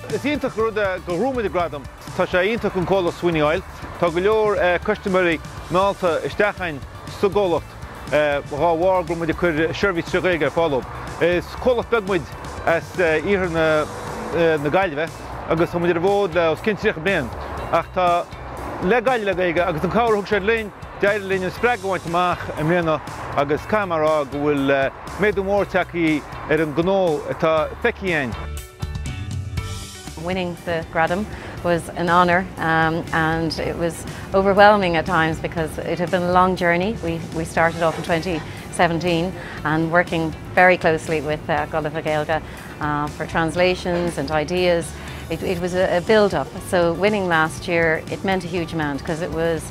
Is iontach an rud é gur bhuaigh muid an gradam. Tá sé iontach don chomhlacht Sweeney Oil. Tá go leor custaiméirí meallta isteach againn sa gcomhlacht dhá bharr go bhfuil muid ag cur seirbhís trí Ghaeilge ar fáil dóibh. Is comhlacht beag muid as iarthar na Gaillimhe agus tá muid ar an bhfód le os cionn tríocha bliain ach tá le Gaillimh le Gaeilge agus an cabhair a thug siad linn, D'éirigh linn an spreagadh a bhaint amach i mbliana agus caithfidh mé a rá go bhfuil méadú mór tagtha ar an ngnó atá feicthe again. Winning the Gradam was an honour and it was overwhelming at times because it had been a long journey. We we started off in 2017 and working very closely with uh, Gulliver Gaelga uh, for translations and ideas. It, it was a, a build-up, so winning last year, it meant a huge amount because it was